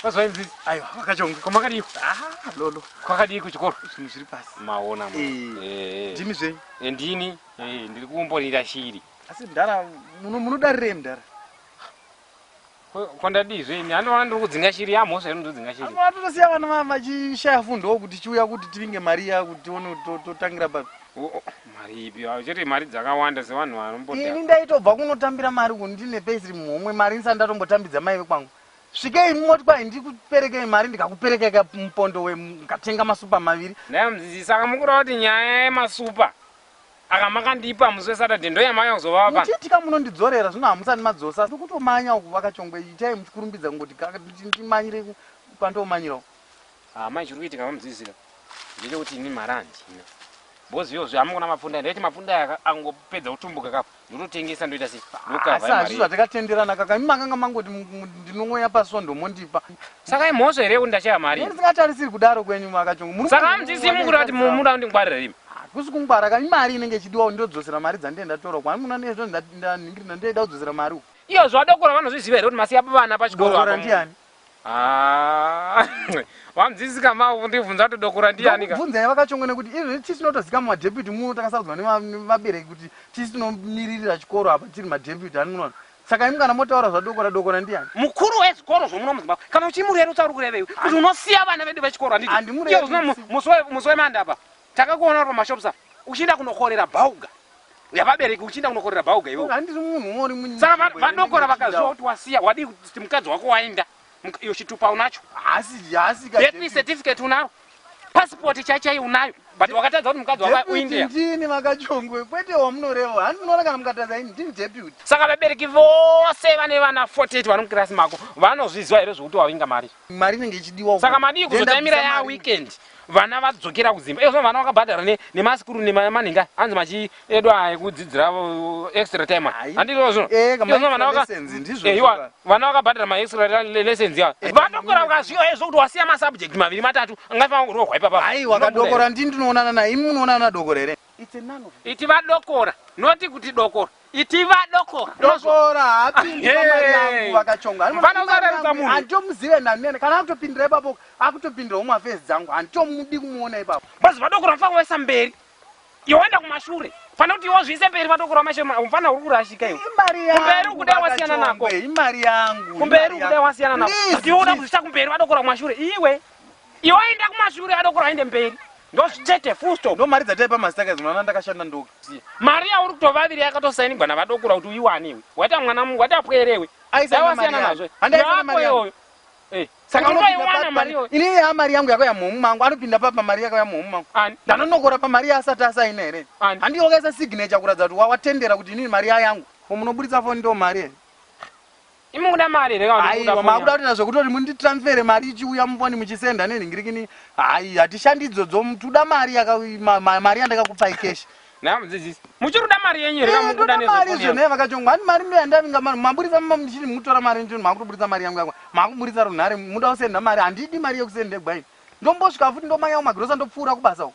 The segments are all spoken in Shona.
Vazvainzi aiwa vakachonga kwamakadii ah lolo kwakadii kuchikoro zvinhu zviri pasi maona ma eh, eh. ndimi zvenyu eh, ndini eh, ndiri kumborira shiri asi mdara munodarirei mdara kwandadii zvenyu anoona ndiri kudzinga shiri yamhosva ino ndodzinga shiri atotosiya vana vachishaya fundowo kuti chiuya kuti tivinge mari ya kuti tione totangira papi mari ipi chete mari dzakawanda sevanhu vanomboini ndaitobva kunotambira mari kundine paisiri muhomwe mari ndisati ndatombotambidza maive kwangu Svikei moti kwai ndikuperekei mari ndikakuperekei ka mupondo we mukatenga masupa maviri. Nhai mudzidzisi saka mukureva kuti nyaya yemasupa aka makandipa musi weSaturday ndoyamauya kuzova apa. Muchiitika munondidzorera zvino hamusati madzosa asi kutomanya uku vakachongwe itai muchikurumbidza kungoti kaka ndimanyire kwandomanyira uku. Ah mai chiri kuitika vamudzidzisi ka ndechekuti ini mari handina. Bozi yozve hamukuna mapfunde ndaiti mapfunde aya angopedza kutumbuka kapo. ndototengesa ndoita sei ndokava mari asi zvatakatenderana kaka imi makanga mangoti ndinongoya pasondo mondipa saka imhosva here yekuti ndashaya mari ndisingatarisiri kudaro kwenyu makachongo muri saka amutisi mukuri vati munoda kundingwarira imi hakusi ah, kungwara ka imari inenge ichidiwa ndodzosera mari dzandee ndatora kwani muno nezvo ndaningirina ndoida kudzosera mari uku iyo zvadokora vanozviziva here kuti masiya vana pachikoro ndiani Haa vamdzisi kamau kundibvunza kuti dokura ndiyani ka. Ndokubvunza iwe kachongwe nekuti izvozvi tisu tinotozika muma deputy muno takasarudzwa nevabereki kuti tisu tinomiririra chikoro apa tiri ma deputy ani munoona. Saka imi kana motaura zvadokora dokora ndiyani. Mukuru wezvikoro zvomuno muZimbabwe kana uchimurerutsa uri kurevei kuti unosiya vana vedu vechikoro handiti. Handimurerutsi. Musi weMande apa Takakuona uri pamashops apa uchienda kunokorera bhauga yavabereki uchienda kunokorera bhauga iwe. Handisi munhu umwe uri munyika. Saka vadokora vakaziva kuti wasiya wadii kuti mukadzi wako waenda iyo chitupa unacho. Haasi haasi ka. Birth certificate unaro. Passport chachai unayo but wakatadza kuti mukadzi wako uIndia. Ndini vakachongwe kwete wamunoreva. Handinoona kana mukatadza ini ndini deputy. Saka vabereki vose vane vana 48 vari mukirasi mako vanozviziva here zvokuti wavinga mari. mari inenge ichidiwa uko. saka madii kuzotaimira Ndenda ya mari. weekend vana vadzokera kudzimba iye zvino vana vakabhadhara ne- nemasikuru nemanhinga anzi machi edu aya ekudzidzira uh, extra time Hai. handizvo zvino Eh, kama Iye zvino vana extra vaka- lessons, ndizvo Eh, iwa- zvona. vana vakabhadhara maextra le- lessons ya vadokora ukazviyo aizvo kuti wasiya masubject maviri matatu angaifana kurohwa ipapa Hai wakadokora ndini ndinoonana naye imi munoonana nadokora here? It's a none of iti vadokora noti kuti dokora Iti vadoko dokora haapindi pamari yangu vakachonga vanozareruka munhu handitomuzive nani kana akutopindira ipapo akutopindira umwe afesi dzangu handitomudi kumuona ipapo basi vadokora mfana wesa mberi yoenda kumashure fana kuti wozviise mberi vadokora mashe mfana uri kurashika iwe imari yangu kumberi ukudai wasiyana nako imari yangu kumberi ukudai wasiyana nako ndiuda kuzvisa kumberi vadokora kumashure iwe Iwe enda kumashure adoko raende mberi. Ndozvitete full stop. Ndo mari dzataipa mastakers mwana ndakashanda ndokusiya. Mari yauri kutovaviri yakatosainigwa navadokura kuti uiwane iwe. Waita mwana mungu wati apwere iwe. Aisa mari yangu. Handaisa mari yangu. Eh, saka unoiwana mari iwe. Ini ya mari yangu yako ya muhomu mangu anopinda papa mari yako ya muhomu mangu. Ndanonokora pa mari asati asaina here. Handi wakaisa signature kuratidza kuti watendera kuti inini mari yangu. Ko munoburitsa phone ndo mari here? Imi mukuda mari here kana Aiwa makuda kutoita zvekutori mundi transfer mari ichiuya mufoni muchisenda nenhingirikini hayi hatishandi idzo dzo tuda mari yaka ma, ma, mari yandakakupai cash Naam mudzidzisi. Muchiri kuda mari yenyu here kana mukuda nezve mari izvo neva kacho ngwani mari ndo yandavinga mari maburitsa mama muchiri mutora mari ndio makutoburitsa mari yangu yakwa makuburitsa runhare muda kusenda mari handidi mari yekusenda gwaini ndombosvika futi ndomanyawo magrosa ndopfuura kubasa uko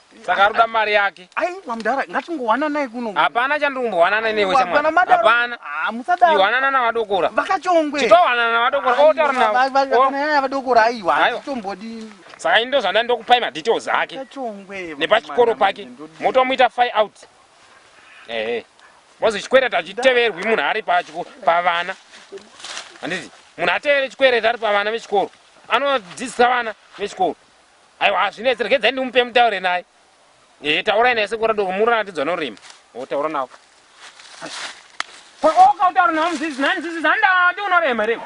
Saka ari kuda mari yake. Aiwa mdara ngatingowananai kuno. Hapana chandiri kumbowanana newe shamwari. Hapana. Ah musadaro. Iwanana na vadokora. Vakachongwe. Titowanana na vadokora. Oh taura navo. Vakana yaya vadokora aiwa. Tombodi. Saka ini ndozvanda ndokupai ma details ake. Vakachongwe. Nepachikoro pake. Motomuita fire out. Eh. eh. Wazi chikwereta achiteverwi munhu ari pachiko pavana. Handiti munhu atevere chikwereta ari pavana vechikoro. Anodzidzisa vana vechikoro. Aiwa hazvinetse regedzai ndimupe mutaure naye. Eh taurai naye sekora doko murona atidzwa norima. Oh taura nawo. Ko oka utaura nawo mzizi nani zizi zanda ati unorema reko.